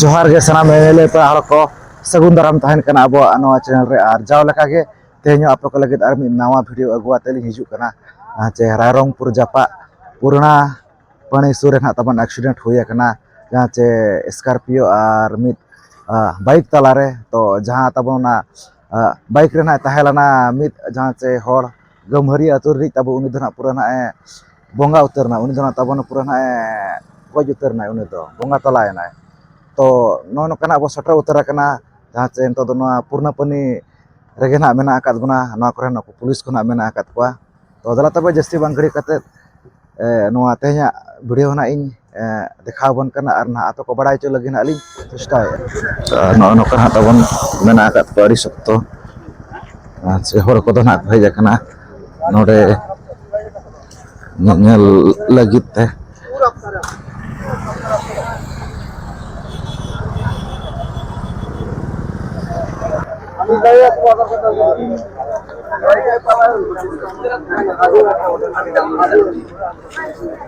ᱡᱚᱦᱟᱨ ᱜᱮ ᱥᱟᱱᱟᱢ ᱮᱢᱮᱞᱮ ᱯᱮᱲᱟ ᱦᱚᱲ ᱠᱚ ᱥᱟᱹᱜᱩᱱ ᱫᱟᱨᱟᱢ ᱛᱟᱦᱮᱱ ᱠᱟᱱᱟ ᱟᱵᱚᱣᱟᱜ ᱱᱚᱣᱟ ᱪᱮᱱᱮᱞ ᱨᱮ ᱟᱨ ᱡᱟᱣ ᱞᱮᱠᱟ ᱜᱮ ᱛᱮᱦᱮᱧ ᱦᱚᱸ ᱟᱯᱮ ᱠᱚ ᱞᱟᱹᱜᱤᱫ ᱟᱨ ᱢᱤᱫ ᱱᱟᱣᱟ ᱵᱷᱤᱰᱭᱳ ᱟᱹᱜᱩ ᱟᱛᱮᱫ ᱞᱤᱧ ᱦᱤᱡᱩᱜ ᱠᱟᱱᱟ ᱡᱮ ᱨᱟᱭᱨᱚᱝᱯᱩᱨ ᱡᱟᱯᱟᱜ ᱯᱩᱨᱱᱟ ᱯᱟᱹᱲᱤ ᱥᱩᱨ ᱨᱮ ᱱᱟᱦᱟᱜ ᱛᱟᱵᱚᱱ ᱮᱠᱥᱤᱰᱮᱱᱴ ᱦᱩᱭ ᱟᱠᱟᱱᱟ ᱡᱟᱦᱟᱸ ᱪᱮ ᱥᱠᱳᱨᱯᱤᱭᱳ ᱟᱨ ᱢᱤᱫ ᱵᱟᱭᱤᱠ ᱛᱟᱞᱟᱨᱮ ᱛᱚ ᱡᱟᱦᱟᱸ ᱛᱟᱵᱚ ᱚᱱᱟ ᱵᱟᱭᱤᱠ ᱨᱮ ᱱᱟᱦᱟᱜ ᱛᱟᱦᱮᱸ ᱞᱮᱱᱟ ᱢᱤᱫ ᱡᱟᱦᱟᱸ ᱪᱮ ᱦᱚᱲ ᱜᱟᱹᱢᱦᱟᱹᱨᱤ ᱟᱹᱛᱩ ᱨᱤᱱᱤᱡ ᱛᱟᱵᱚ ᱩᱱᱤ ᱫᱚ ᱱᱟᱦᱟᱜ ᱯᱩᱨᱟᱹ ᱱᱟᱦᱟᱜ ᱮ ᱵᱚᱸᱜᱟ ᱩᱛᱟᱹᱨ ᱮᱱᱟᱭ ᱩᱱᱤ ᱫᱚ ᱱᱟᱦᱟᱜ ᱛᱟᱵᱚᱱ ᱯᱩᱨᱟᱹ ᱱᱟᱦᱟᱜ ᱮ ᱜᱚᱡ ᱩᱛᱟᱹᱨ ᱮᱱᱟᱭ ᱩᱱᱤ ᱫᱚ ᱵᱚᱸᱜᱟ ᱛᱟᱞᱟ ᱮᱱᱟᱭ ᱛᱚ ᱱᱚᱜᱼᱚ ᱱᱚᱝᱠᱟᱱᱟᱜ ᱵᱚᱱ ᱥᱮᱴᱮᱨ ᱩᱛᱟᱹᱨ ᱟᱠᱟᱱᱟ ᱡᱟᱦᱟᱸ ᱪᱮ ᱱᱤᱛᱚᱜ ᱫᱚ ᱱᱚᱣᱟ ᱯᱩᱨᱱᱟᱹ ᱯᱟᱹᱱᱤ ᱨᱮᱜᱮ ᱱᱟᱦᱟᱜ ᱢᱮᱱᱟᱜ ᱟᱠᱟᱫ ᱵᱚᱱᱟ ᱱᱚᱣᱟ ᱠᱚᱨᱮᱱ ᱱᱩᱠᱩ ᱯᱩᱞᱤᱥ ᱠᱚ ᱱᱟᱦᱟᱜ ᱢᱮᱱᱟᱜ ᱟᱠᱟᱫ ᱠᱚᱣᱟ ᱛᱚ ᱫᱮᱞᱟ ᱛᱚᱵᱮ ᱡᱟᱹᱥᱛᱤ ᱵᱟᱝ ᱜᱷᱟᱹᱲᱤᱠ ᱠᱟᱛᱮᱫ ᱱᱚᱣᱟ ᱛᱮᱦᱮᱧᱟᱜ ᱵᱷᱤᱰᱭᱳ ᱱᱟᱦᱟᱜ ᱤᱧ ᱫᱮᱠᱷᱟᱣ ᱟᱵᱚᱱ ᱠᱟᱱᱟ ᱟᱨ ᱱᱟᱦᱟᱜ ᱟᱯᱮ ᱠᱚ ᱵᱟᱲᱟᱭ ᱦᱚᱪᱚ ᱞᱟᱹᱜᱤᱫ ᱱᱟᱦᱟᱜ ᱞᱤᱧ ᱪᱮᱥᱴᱟᱭᱮᱫᱼᱟ ᱱᱚᱜᱼᱚ ᱱᱚᱝᱠᱟ ᱱᱟᱦᱟᱜ ᱛᱟᱵᱚᱱ ᱢᱮᱱᱟᱜ ᱟᱠᱟᱫ ᱛᱟᱠᱚᱣᱟ ᱟᱹᱰᱤ ᱥᱚᱠᱛᱚ ᱟᱨ ᱥᱮ ᱦᱚᱲ ᱠᱚᱫᱚ ᱱᱟᱦᱟᱜ ᱠᱚ ᱦᱮᱡ ᱟᱠᱟᱱᱟ ᱱᱚᱰᱮ ᱧᱮᱧᱮᱞ ᱞᱟᱹᱜᱤᱫ ᱛᱮ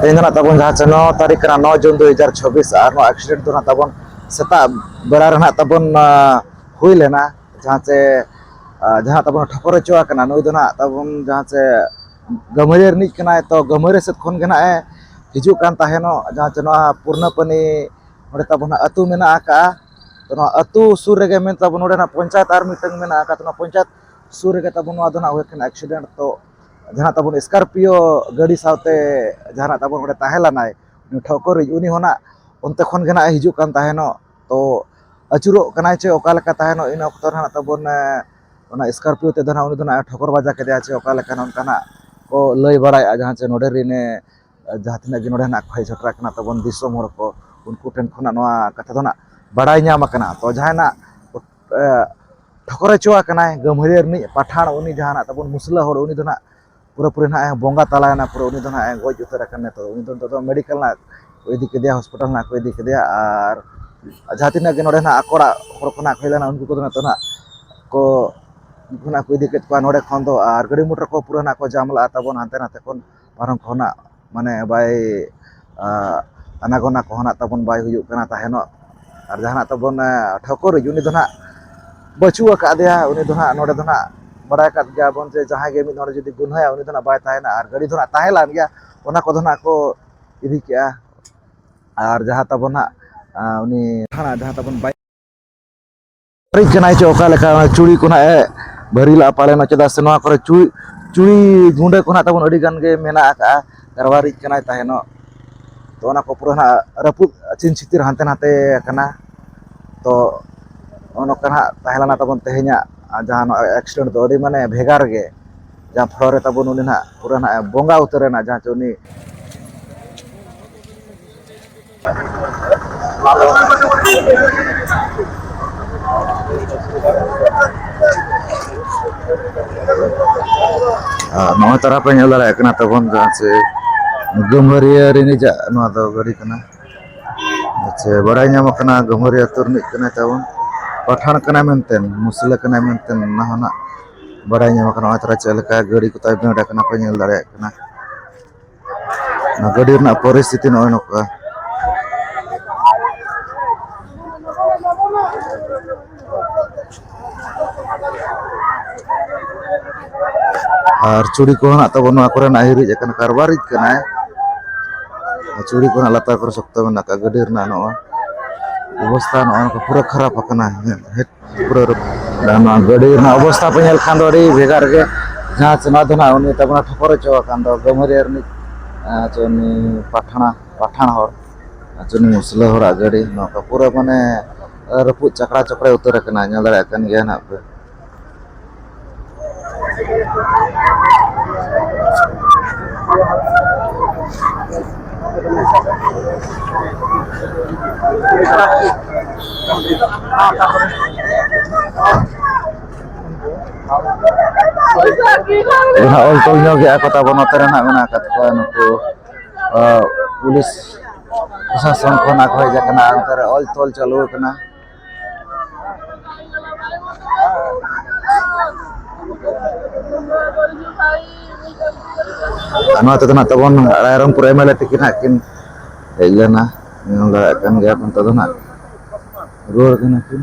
ᱛᱮᱦᱮᱧ ᱫᱚ ᱱᱟᱜ ᱛᱟᱵᱚᱱ ᱡᱟᱦᱟᱸ ᱪᱮ ᱱᱚ ᱛᱟᱹᱨᱤᱠᱷ ᱠᱟᱱᱟ ᱱᱚ ᱡᱩᱱ ᱫᱩ ᱦᱟᱡᱟᱨ ᱪᱷᱟᱵᱤᱥ ᱟᱨ ᱱᱚᱣᱟ ᱮᱠᱥᱤᱰᱮᱱᱴ ᱫᱚ ᱱᱟᱜ ᱛᱟᱵᱚᱱ ᱥᱮᱛᱟᱜ ᱵᱮᱲᱟ ᱨᱮ ᱱᱟᱜ ᱛᱟᱵᱚᱱ ᱦᱩᱭ ᱞᱮᱱᱟ ᱡᱟᱦᱟᱸ ᱪᱮ ᱡᱟᱦᱟᱸ ᱛᱟᱵᱚᱱ ᱴᱷᱚᱠᱚᱨ ᱦᱚᱪᱚ ᱟᱠᱟᱱᱟ ᱱᱩᱭ ᱫᱚ ᱱᱟᱜ ᱛᱟᱵᱚᱱ ᱡᱟᱦᱟᱸ ᱪᱮ ᱜᱟᱹᱢᱟᱹᱨᱟᱹ ᱨᱤᱱᱤᱡ ᱠᱟᱱᱟᱭ ᱛᱚ ᱜᱟᱹᱢᱟᱹᱨᱟᱹ ᱥᱮᱫ ᱠᱷᱚᱱ ᱜᱮ ᱱᱟᱜ ᱮ ᱦᱤᱡᱩᱜ ᱠᱟᱱ ᱛᱟᱦᱮᱱᱚᱜ ᱡᱟᱦᱟᱸ ᱪᱮ ᱱᱚᱣᱟ ᱯᱩᱨᱱᱟᱹ ᱯᱟᱹᱱᱤ ᱚᱸᱰᱮ ᱛᱟᱵᱚᱱ ᱦᱟᱸᱜ ᱟᱹᱛᱩ ᱢᱮᱱᱟᱜ ᱟᱠᱟᱜᱼᱟ ᱛᱚ ᱱᱚᱣᱟ ᱟᱹᱛᱩ ᱥᱩᱨ ᱨᱮᱜᱮ ᱢᱮᱱ ᱛᱟᱵᱚᱱ ᱱᱚᱰᱮᱱᱟᱜ ᱯᱚᱧᱪᱟᱭᱮᱛ ᱟᱨ ᱢᱤᱫᱴᱟᱝ ᱢᱮᱱᱟᱜ ᱟᱠᱟᱫ ᱚᱱᱟ ᱯᱚᱧᱪᱟᱭᱮᱛ ᱥᱩᱨ ᱨᱮᱜᱮ ᱛᱟᱵᱚᱱ ᱱᱚᱣᱟ ᱫᱚ ᱱᱟᱜ ᱦᱩᱭ ᱠᱟᱱᱟ ᱮᱠᱥᱤᱰᱮᱱᱴ ᱛᱚ ᱡᱟᱦᱟᱸ ᱛᱟᱵᱚᱱ ᱥᱠᱟᱨᱯᱤᱭᱳ ᱜᱟᱹᱰᱤ ᱥᱟᱶᱛᱮ ᱡᱟᱦᱟᱸ ᱛᱟᱵᱚᱱ ᱚᱸᱰᱮ ᱛᱟᱦᱮᱸ ᱞᱮᱱᱟᱭ ᱩᱱᱤ ᱴᱷᱟᱹᱣᱠᱟᱹᱨᱤᱡ ᱩᱱᱤ ᱦᱚᱸ ᱱᱟᱜ ᱚᱱᱛᱮ ᱠᱷᱚᱱ ᱜᱮ ᱱᱟᱜ ᱮ ᱦᱤᱡᱩᱜ ᱠᱟᱱ ᱛᱟᱦᱮᱱᱚᱜ ᱛᱚ ᱟᱹᱪᱩᱨᱚᱜ ᱠᱟᱱᱟᱭ ᱪᱮ ᱚᱠᱟ ᱞᱮᱠᱟ ᱛᱟᱦᱮᱱᱚᱜ ᱤᱱᱟᱹ ᱚᱠᱛᱚ ᱨᱮ ᱱᱟᱜ ᱛᱟᱵᱚᱱ ᱚᱱᱟ ᱥᱠᱟᱨᱯᱤᱭᱳ ᱛᱮᱫᱚ ᱱᱟᱜ ᱩᱱᱤ ᱫᱚ ᱱᱟᱜ ᱮ ᱴᱷᱚᱠᱚᱨ ᱵᱟᱡᱟᱣ ᱠᱮᱫᱮᱭᱟ ᱪᱮ ᱚᱠᱟ ᱞᱮᱠᱟ ᱱᱚᱝᱠᱟᱱᱟᱜ ᱠᱚ ᱞᱟᱹᱭ ᱵᱟᱲᱟᱭᱮᱫᱼᱟ ᱡᱟᱦᱟᱸ ᱪᱮ ᱱᱚᱰᱮ ᱨᱮᱱᱮ ᱡᱟᱦᱟᱸ ᱛᱤᱱᱟᱹᱜ ᱜᱮ ᱱᱚᱰᱮ ᱦᱮᱱᱟᱜ ᱠᱷᱚᱭ ᱡᱷᱚᱴᱨᱟ ᱠᱟᱱᱟ ᱛᱟᱵᱚᱱ ᱫᱤᱥᱚᱢ ᱦᱚᱲ ᱠᱚ ᱩᱱᱠᱩ ᱴᱷᱮᱱ ᱠᱷᱚᱱᱟᱜ ᱱᱚᱣᱟ ᱠᱟᱛᱷᱟ ᱫᱚ ᱱᱟᱜ ᱵᱟᱲᱟᱭ ᱧᱟᱢ ᱟᱠᱟᱱᱟ ᱛᱚ ᱡᱟᱦᱟᱸᱭᱱᱟᱜ ᱴᱷᱚᱠᱚᱨ ᱦᱚᱪᱚ ᱟᱠᱟᱱᱟᱭ ᱜᱟᱹᱢᱦᱟᱹᱨᱤᱭᱟᱹ ᱨᱤᱱᱤᱡ ᱯᱟᱴᱷᱟᱬ ᱩᱱᱤ ᱡᱟᱦᱟᱸᱱᱟᱜ ᱛᱟᱵᱚᱱ ᱢᱩᱥᱞᱟᱹ ᱦᱚᱲ ᱩᱱᱤ ᱫᱚ ᱱᱟᱜ ᱯᱩᱨᱟᱹᱯᱩᱨᱤ ᱱᱟᱜ ᱮ ᱵᱚᱸᱜᱟ ᱛᱟᱞᱟᱭᱮᱱᱟ ᱯᱩᱨᱟᱹ ᱩᱱᱤ ᱫᱚ ᱱᱟᱜ ᱮ ᱜᱚᱡ ᱩᱛᱟᱹᱨ ᱟᱠᱟᱱᱟ ᱱᱤᱛᱚᱜ ᱩᱱᱤ ᱫᱚ ᱱᱤᱛᱚᱜ ᱫᱚ ᱢᱮᱰᱤᱠᱮᱞ ᱱᱟᱜ ᱠᱚ ᱤᱫᱤ ᱠᱮᱫᱮᱭᱟ ᱦᱚᱥᱯᱤᱴᱟᱞ ᱱᱟᱜ ᱠᱚ ᱤᱫᱤ ᱠᱮᱫᱮᱭᱟ ᱟᱨ ᱡᱟᱦᱟᱸ ᱛᱤᱱᱟᱹᱜ ᱜᱮ ᱱᱚᱰᱮ ᱱᱟᱜ ᱟᱠᱚᱲᱟᱜ ᱦᱚᱲ ᱠᱚ ᱱᱟᱜ ᱠᱚ ᱦᱮᱡ ᱞᱮᱱᱟ ᱩᱱᱠᱩ ᱠᱚᱫᱚ ᱱᱤᱛᱚᱜ ᱱᱟᱜ ᱠᱚ ᱩᱱᱠᱩ ᱱᱟᱜ ᱠᱚ ᱤᱫᱤ ᱠᱮᱫ ᱠᱚᱣᱟ ᱱᱚᱰᱮ ᱠᱷᱚᱱ ᱫᱚ ᱟᱨ ᱜᱟᱹᱰᱤ ᱢᱚᱴᱚᱨ ᱠᱚ ᱯᱩᱨᱟᱹ ᱱᱟᱜ ᱠᱚ ᱡᱟᱢ ᱞᱟᱜᱼᱟ ᱛᱟᱵᱚᱱ ᱦᱟᱱᱛᱮ ᱱᱟᱛᱮ ᱠᱷᱚᱱ ᱯᱟᱨᱚᱢ ᱠᱚᱦᱚᱱᱟᱜ ᱢᱟᱱᱮ ᱵᱟᱭ ᱟᱱᱟ ᱜᱚᱱᱟ ᱠᱚᱦᱚᱱᱟᱜ ᱛᱟᱵᱚᱱ ᱵᱟᱭ ᱦᱩᱭᱩᱜ ᱠᱟᱱᱟ ᱛᱟᱦᱮᱱᱚᱜ ᱟᱨ ᱡᱟᱦᱟᱱᱟᱜ ᱛᱟᱵᱚᱱ ᱴᱷᱟᱹᱣᱠᱟᱹᱨᱤᱡ ᱩᱱᱤ ᱫᱚ ᱦᱟᱸᱜ ᱵᱟᱹᱪᱩᱜ ᱟᱠᱟᱫᱮᱭᱟ ᱩᱱᱤ ᱫᱚ ᱦᱟᱸᱜ ᱱᱚᱰᱮ ᱫᱚ ᱦᱟᱸᱜ ᱵᱟᱲᱟᱭ ᱠᱟᱜ ᱜᱮᱭᱟᱵᱚᱱ ᱡᱮ ᱡᱟᱦᱟᱸᱭ ᱜᱮ ᱢᱤᱫ ᱦᱚᱲ ᱡᱩᱫᱤ ᱜᱩᱱᱟᱹᱭᱟ ᱩᱱᱤ ᱫᱚ ᱦᱟᱸᱜ ᱵᱟᱭ ᱛᱟᱦᱮᱱᱟ ᱟᱨ ᱜᱟᱹᱰᱤ ᱫᱚ ᱦᱟᱸᱜ ᱛᱟᱦᱮᱸ ᱞᱮᱱ ᱜᱮᱭᱟ ᱚᱱᱟ ᱠᱚᱫᱚ ᱦᱟᱸᱜ ᱠᱚ ᱤᱫᱤ ᱠᱮᱜᱼᱟ ᱟᱨ ᱡᱟᱦᱟᱸ ᱛᱟᱵᱚᱱ ᱦᱟᱸᱜ ᱩᱱᱤ ᱡᱟᱦᱟᱸ ᱛᱟᱵᱚᱱ ᱵᱟᱭ ᱯᱟᱹᱨᱤᱡ ᱠᱟᱱᱟᱭ ᱪᱮ ᱚᱠᱟ ᱞᱮᱠᱟ ᱪᱩᱲᱤ ᱠᱚ ᱱᱟᱜ ᱮ ᱵᱷᱟᱹᱨᱤ ᱞᱟᱜᱼᱟ ᱯᱟᱞᱮᱱ ᱪᱮᱫᱟᱜ ᱥᱮ ᱱᱚᱣᱟ ᱠᱚᱨᱮ ᱪᱩᱲᱤ ᱪᱩᱲᱤ ᱜᱩᱸᱰᱟᱹ ᱠᱚ ᱱᱟᱜ ᱛᱟᱵᱚᱱ ᱟᱹᱰᱤ ᱜᱟᱱ ᱜᱮ ᱢᱮᱱᱟᱜ ᱟᱠᱟᱜᱼᱟ ᱠᱟᱨᱣᱟᱨᱤᱡ ᱠᱟᱱᱟᱭ ᱛᱟᱦᱮᱱᱚᱜ ᱛᱚ ᱚᱱᱟ ᱠᱚ ᱯᱩᱨᱟᱹ ᱱᱟᱜ ᱨᱟᱹᱯᱩᱫ ᱪᱤᱱ ᱪᱷᱤᱛᱤᱨ ᱦᱟᱱᱛᱮ ᱱᱟᱛᱮ ᱟᱠᱟᱱᱟ ᱛᱚ ᱚᱱᱠᱟ ᱱᱟᱜ ᱛᱟᱦᱮᱸ ᱞᱮᱱᱟ ᱛᱟᱵᱚᱱ ᱛᱮᱦᱮᱧᱟᱜ ᱡᱟᱦᱟᱸ ᱱᱚᱣᱟ ᱮᱠᱥᱤᱰᱮᱱᱴ ᱫᱚ ᱟᱹᱰᱤ ᱢᱟᱱᱮ ᱵᱷᱮᱜᱟᱨ ᱜᱮ ᱡᱟᱦᱟᱸ ᱯᱷᱚᱨᱚ ᱨᱮ ᱛᱟᱵᱚᱱ ᱩᱱᱤ ᱱᱟᱜ ᱯᱩᱨᱟᱹ ᱱᱟᱜ ᱵᱚᱸᱜᱟ ᱩᱛᱟᱹᱨᱮᱱᱟ ᱡᱟᱦᱟᱸ ᱪᱮ ᱩᱱᱤ ᱟᱨ ᱱᱚᱜᱼᱚᱭ ᱛᱟᱨᱟ ᱯᱮ ᱧᱮᱞ ᱫᱟᱲᱮᱭᱟᱜ ᱠᱟᱱᱟ ᱛᱚᱠᱷᱚᱱ ᱡᱟᱦᱟᱸ ᱥᱮ ᱜᱟᱹᱢᱦᱟᱹᱨᱤᱭᱟᱹ ᱨᱤᱱᱤᱡᱟᱜ ᱱᱚᱣᱟ ᱫᱚ ᱜᱟᱹᱰᱤ ᱠᱟᱱᱟ ᱟᱪᱪᱷᱟ ᱵᱟᱲᱟᱭ ᱧᱟᱢᱚᱜ ᱠᱟᱱᱟ ᱜᱟᱹᱢᱦᱟᱹᱨᱤᱭᱟᱹ ᱟᱹᱛᱩ ᱨᱤᱱᱤᱡ ᱠᱟᱱᱟᱭ ᱛᱟᱵᱚᱱ ᱯᱟᱴᱷᱟᱬ ᱠᱟᱱᱟᱭ ᱢᱮᱱᱛᱮ ᱢᱩᱥᱞᱟᱹ ᱠᱟᱱᱟᱭ ᱢᱮᱱᱛᱮ ᱚᱱᱟ ᱦᱚᱸ ᱱᱟᱜ ᱵᱟᱲᱟᱭ ᱧᱟᱢᱚᱜ ᱠᱟᱱᱟ ᱱᱚᱜᱼᱚᱭ ᱛᱟᱨᱟ ᱪᱮᱫ ᱞᱮᱠᱟ ᱜᱟᱹᱰᱤ ᱠᱚᱛᱟᱭ ᱵᱷᱤᱲ ᱟᱠᱟᱱᱟ ᱯᱮ ᱧᱮᱞ ᱫᱟᱲᱮᱭᱟᱜ ᱠᱟᱱᱟ ᱜᱟᱹᱰᱤ ᱨᱮᱱᱟᱜ ᱯᱚᱨᱤᱥᱛᱷᱤᱛᱤ ᱱᱚᱜᱼᱚᱭ ᱱᱚᱝᱠᱟ ᱟᱨ ᱪᱩᱲᱤ ᱠᱚ ᱦᱮᱱᱟᱜ ᱛᱟᱵᱚᱱ ᱱᱚᱣᱟ ᱠᱚᱨᱮᱱᱟᱜ ᱦᱤᱨᱤᱡ ᱟᱠᱟᱱᱟ ᱠᱟᱨᱵᱟᱨᱤᱡ ᱠᱟᱱᱟᱭ ᱪᱩᱲᱤ ᱠᱚ ᱞᱟᱛᱟᱨ ᱠᱚᱨᱮ ᱥᱚᱠᱛᱚ ᱢᱮᱱᱟᱜ ᱟᱠᱟᱫ ᱜᱟᱹᱰᱤ ᱨᱮᱱᱟᱜ ᱱᱚᱣᱟ ᱚᱵᱚᱥᱛᱟ ᱱᱚᱜᱼᱚ ᱱᱚᱝᱠᱟ ᱯᱩᱨᱟᱹ ᱠᱷᱟᱨᱟᱯ ᱟᱠᱟᱱᱟ ᱱᱚᱣᱟ ᱜᱟᱹᱰᱤ ᱨᱮᱱᱟᱜ ᱚᱵᱚᱥᱛᱷᱟ ᱯᱮ ᱧᱮᱞ ᱠᱷᱟᱱ ᱫᱚ ᱟᱹᱰᱤ ᱵᱷᱮᱜᱟᱨ ᱜᱮ ᱡᱟᱦᱟᱸ ᱪᱮ ᱱᱚᱣᱟ ᱫᱚ ᱱᱟᱦᱟᱜ ᱩᱱᱤ ᱛᱟᱵᱚᱱ ᱴᱷᱚᱠᱚᱨ ᱦᱚᱪᱚ ᱟᱠᱟᱱ ᱫᱚ ᱜᱟᱹᱢᱟᱹᱨᱤᱭᱟᱹ ᱨᱤᱱᱤᱡ ᱪᱮ ᱩᱱᱤ ᱯᱟᱴᱷᱟᱬ ᱯᱟᱴᱷᱟᱬ ᱦᱚᱲ ᱪᱮ ᱩᱱᱤ ᱢᱩᱥᱞᱟᱹ ᱦᱚᱲᱟᱜ ᱜᱟᱹᱰᱤ ᱱᱚᱝᱠᱟ ᱯᱩᱨᱟᱹ ᱢᱟᱱᱮ ᱨᱟᱹᱯᱩᱫ ᱪᱟᱠᱲᱟ ᱪᱚᱠᱲᱮ ᱩᱛᱟᱹᱨ ᱟᱠᱟᱱᱟ ᱧᱮᱞ ᱫᱟᱲᱮᱭᱟᱜ ᱠᱟᱱ ᱜᱮᱭᱟ ᱱᱟᱦᱟᱜ ᱯᱮ ᱡᱟᱦᱟᱸ ᱚᱞ ᱛᱚᱞ ᱧᱚᱜ ᱜᱮᱭᱟ ᱠᱚ ᱛᱟᱵᱚᱱ ᱱᱚᱛᱮ ᱨᱮᱱᱟᱜ ᱢᱮᱱᱟᱜ ᱟᱠᱟᱫ ᱠᱚᱣᱟ ᱱᱩᱠᱩ ᱯᱩᱞᱤᱥ ᱯᱨᱚᱥᱟᱥᱚᱱ ᱠᱷᱚᱱ ᱟᱠᱚ ᱦᱮᱡ ᱟᱠᱟᱱᱟ ᱚᱱᱛᱮ ᱨᱮ ᱚᱞ ᱛᱚᱞ ᱪᱟᱹᱞᱩ ᱟᱠᱟᱱᱟ ᱟᱱᱟ ᱛᱮᱫᱚ ᱱᱟᱜ ᱛᱟᱵᱚᱱ ᱨᱟᱭᱨᱚᱝ ᱯᱩᱨᱟᱹᱭ ᱢᱟᱞᱮ ᱛᱤᱠᱤᱱ ᱦᱟᱸᱜ ᱠᱤᱱ ᱦᱮᱡ ᱞᱮᱱᱟ ᱧᱮᱞ ᱫᱟᱲᱮᱭᱟᱜ ᱠᱟᱱ ᱜᱮᱭᱟ ᱱᱤᱛᱚᱜ ᱫᱚ ᱱᱟᱜ ᱨᱩᱣᱟᱹᱲ ᱠᱟᱱᱟ ᱠᱤᱱ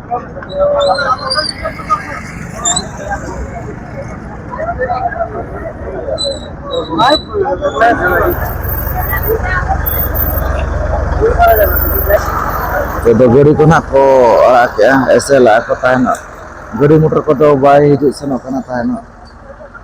ᱛᱮᱫᱚ ᱜᱟᱹᱰᱤ ᱠᱚ ᱱᱟᱜ ᱠᱚ ᱟᱲᱟᱜ ᱠᱮᱜᱼᱟ ᱮᱥᱮᱞᱟᱜ ᱠᱚ ᱛᱟᱦᱮᱱᱚᱜ ᱜᱟᱹᱰᱤ ᱢᱚᱴᱚᱨ ᱠᱚᱫᱚ ᱵᱟᱭ ᱦᱤᱡᱩᱜ ᱥᱮᱱᱚᱜ ᱠᱟᱱᱟ ᱛᱟᱦᱮᱱᱚᱜ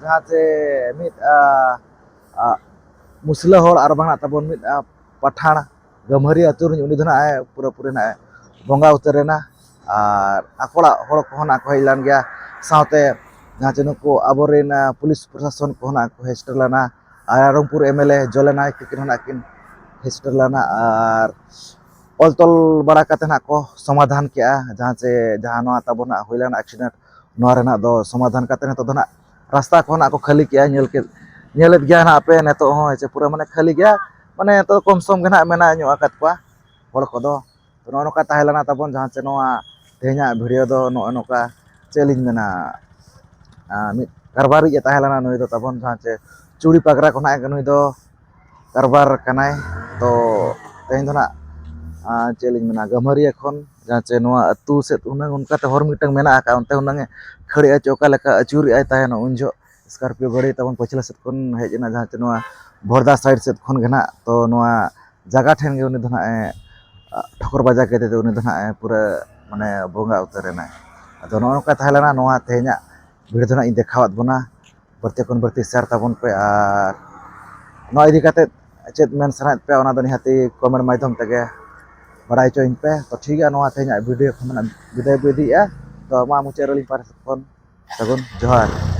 ᱡᱟᱦᱟᱸᱛᱮ ᱢᱤᱫ ᱢᱩᱥᱞᱟᱹ ᱦᱚᱲ ᱟᱨ ᱵᱟᱝ ᱛᱟᱵᱚᱱ ᱢᱤᱫ ᱯᱟᱴᱷᱟᱬ ᱜᱟᱹᱢᱦᱟᱹᱨᱤ ᱟᱹᱛᱩ ᱨᱤᱱᱤᱡ ᱩᱱᱤ ᱫᱚ ᱱᱟᱜ ᱮ ᱯᱩᱨᱟᱹ ᱯᱩᱨᱤ ᱱᱟᱜ ᱮ ᱵᱚᱸᱜᱟ ᱩᱛᱟᱹᱨ ᱮᱱᱟ ᱟᱨ ᱟᱠᱚ ᱚᱲᱟᱜ ᱦᱚᱲ ᱠᱚᱦᱚᱸ ᱱᱟᱜ ᱠᱚ ᱦᱮᱡ ᱞᱮᱱ ᱜᱮᱭᱟ ᱥᱟᱶᱛᱮ ᱡᱟᱦᱟᱸ ᱪᱮ ᱱᱩᱠᱩ ᱟᱵᱚ ᱨᱮᱱ ᱯᱩᱞᱤᱥ ᱯᱨᱚᱥᱟᱥᱚᱱ ᱠᱚᱦᱚᱸ ᱱᱟᱜ ᱠᱚ ᱦᱮᱡ ᱥᱮᱴᱮᱨ ᱞᱮᱱᱟ ᱟᱨ ᱨᱟᱭᱨᱚᱝᱯᱩᱨ ᱮᱢ ᱮᱞ ᱮ ᱡᱚᱞᱮ ᱱᱟᱭᱮᱠ ᱛᱟᱹᱠᱤᱱ ᱦᱚᱸ ᱱᱟᱜ ᱠᱤᱱ ᱦᱮᱡ ᱥᱮᱴᱮᱨ ᱞᱮᱱᱟ ᱟᱨ ᱚᱞ ᱛᱚᱞ ᱵᱟᱲᱟ ᱠᱟᱛᱮᱫ ᱱᱟᱜ ᱠᱚ ᱥᱚᱢᱟᱫᱷᱟᱱ ᱠᱮᱜᱼᱟ ᱡᱟᱦᱟᱸ ᱪᱮ ᱡᱟᱦᱟᱸ ᱱᱚᱣᱟ ᱛᱟᱵᱚᱱ ᱱᱟᱜ ᱦᱩᱭ ᱞᱮᱱᱟ ᱮᱠᱥᱤᱰᱮᱱᱴ ᱱᱚᱣᱟ ᱨᱮᱱᱟᱜ ᱫᱚ ᱥᱚᱢᱟᱫᱷᱟᱱ ᱠᱟᱛᱮ ᱱᱤᱛᱚᱜ ᱫᱚ ᱱᱟᱜ ᱨᱟᱥᱛᱟ ᱠᱚ ᱱᱟᱜ ᱠᱚ ᱠᱷᱟᱹᱞᱤ ᱠᱮᱜᱼᱟ ᱧᱮᱞ ᱠᱮᱫ ᱧᱮᱞᱮᱫ ᱜᱮᱭᱟ ᱱᱟᱜ ᱯᱮ ᱱᱤᱛᱚᱜ ᱦᱚᱸ ᱦᱮᱸᱥᱮ ᱯᱩᱨᱟᱹ ᱢᱟᱱᱮ ᱠᱷᱟᱹᱞᱤ ᱜᱮᱭᱟ ᱢᱟᱱᱮ ᱱᱤᱛᱚᱜ ᱠᱚᱢ ᱥᱚᱢ ᱜᱮ ᱱᱟᱜ ᱢᱮᱱᱟᱜ ᱧᱚᱜ ᱟᱠᱟᱫ ᱠᱚᱣᱟ ᱦᱚᱲ ᱠᱚᱫᱚ ᱛᱚ ᱱᱚᱜᱼᱚ ᱱᱚᱝᱠᱟ ᱛᱟᱦᱮᱸ ᱞᱮᱱᱟ ᱛᱟᱵᱚᱱ ᱡᱟᱦᱟᱸ ᱪᱮ ᱱᱚᱣᱟ ᱛᱮᱦᱮᱧᱟᱜ ᱵᱷᱤᱰᱤᱭᱳ ᱫᱚ ᱱᱚᱜᱼᱚ ᱱᱚᱝᱠᱟ ᱪᱮᱫ ᱞᱤᱧ ᱢᱮᱱᱟ ᱢᱤᱫ ᱠᱟᱨᱵᱟᱨᱤᱡ ᱮ ᱛᱟᱦᱮᱸ ᱞᱮᱱᱟ ᱱᱩᱭ ᱫᱚ ᱛᱟᱵᱚᱱ ᱡᱟᱦᱟᱸ ᱪᱮ ᱪᱩᱲᱤ ᱯᱟᱜᱽᱨᱟ ᱠᱚ ᱱᱟᱜ ᱱᱩᱭ ᱫᱚ ᱠᱟᱨᱵᱟᱨ ᱠᱟᱱᱟᱭ ᱛᱚ ᱛᱮᱦᱮᱧ ᱫᱚ ᱱᱟᱜ ᱪᱮᱫ ᱞᱤᱧ ᱢᱮᱱᱟ ᱜᱟᱹᱢᱟᱹᱨᱤᱭᱟᱹ ᱠᱷᱚᱱ ᱡᱟᱦᱟᱸ ᱪᱮ ᱱᱚᱣᱟ ᱟᱹᱛᱩ ᱥᱮᱫ ᱦᱩᱱᱟᱹᱝ ᱚᱱᱠᱟᱛᱮ ᱦᱚᱨ ᱢᱤᱫᱴᱟᱝ ᱢᱮᱱᱟᱜ ᱟᱠᱟᱫᱼᱟ ᱚᱱᱛᱮ ᱦᱩᱱᱟᱹᱝ ᱮ ᱠᱷᱟᱹᱲᱮᱫᱼᱟ ᱪᱮ ᱚᱠᱟ ᱞᱮᱠᱟ ᱟᱹᱪᱩᱨᱮᱫᱼᱟᱭ ᱛᱟᱦᱮᱱ ᱩᱱ ᱡᱚᱦᱚᱜ ᱥᱠᱳᱨᱯᱤᱭᱳ ᱜᱟᱹᱰᱤ ᱛᱟᱵᱚᱱ ᱯᱟᱹᱪᱷᱞᱟᱹ ᱥᱮᱫ ᱠᱷᱚᱱ ᱦᱮᱡ ᱮᱱᱟ ᱡᱟᱦᱟᱸ ᱪᱮ ᱱᱚᱣᱟ ᱵᱷᱚᱲᱫᱟ ᱥᱟᱭᱤᱰ ᱥᱮᱫ ᱠᱷᱚᱱ ᱜᱮ ᱱᱟᱜ ᱛᱚ ᱱᱚᱣᱟ ᱡᱟᱭᱜᱟ ᱴᱷᱮᱱ ᱜᱮ ᱩᱱᱤ ᱫᱚ ᱱᱟᱜ ᱮ ᱴᱷᱚᱠᱚᱨ ᱵᱟᱡᱟᱣ ᱠᱮᱫᱮ ᱛᱮ ᱩᱱᱤ ᱫᱚ ᱱᱟᱜ ᱮ ᱯᱩᱨᱟᱹ ᱢᱟᱱᱮ ᱵᱚᱸᱜᱟ ᱩᱛᱟᱹᱨ ᱮᱱᱟᱭ ᱟᱫᱚ ᱱᱚᱜᱼᱚ ᱱᱚᱝᱠᱟ ᱛᱟᱦᱮᱸ ᱞᱮᱱᱟ ᱱᱚᱣᱟ ᱛᱮᱦᱮᱧᱟᱜ ᱵᱷᱤᱲ ᱫᱚ ᱱᱟᱜ ᱤᱧ ᱫᱮᱠᱷᱟᱣᱟᱫ ᱵᱚᱱᱟ ᱵᱟᱹᱲᱛᱤ ᱠᱷᱚᱱ ᱵᱟᱹᱲᱛᱤ ᱥᱮᱭᱟᱨ ᱛᱟᱵᱚᱱ ᱯᱮ ᱟᱨ ᱱᱚᱣᱟ ᱤᱫᱤ ᱠᱟᱛᱮ ᱪᱮᱫ ᱢᱮᱱ ᱥᱟᱱᱟᱭᱮᱫ ᱯᱮᱭᱟ ᱚᱱᱟ ᱫᱚ ᱱᱤᱦᱟᱹᱛᱤ ᱠᱚᱢᱮᱱᱴ ᱢᱟᱫᱽᱫᱷᱚᱢ ᱛᱮᱜᱮ ᱵᱟᱲᱟᱭ ᱦᱚᱪᱚᱧ ᱯᱮ ᱛᱚ ᱴᱷᱤᱠ ᱜᱮᱭᱟ ᱱᱚᱣᱟ ᱛᱮᱦᱮᱧᱟᱜ ᱵᱷᱤᱰᱤᱭᱳ ᱠᱷᱚᱱ ᱵᱤᱫᱟᱹᱭ ᱵᱚ ᱤᱫᱤᱭᱮᱫᱼᱟ ᱛᱚ ᱢᱟ ᱢᱩᱪᱟᱹᱫ ᱨᱮ ᱟᱹᱞᱤᱧ ᱯᱟᱦᱴᱟ ᱥᱮᱫ ᱠᱷᱚᱱ ᱥᱟᱹᱜᱩᱱ ᱡᱚᱦᱟᱨ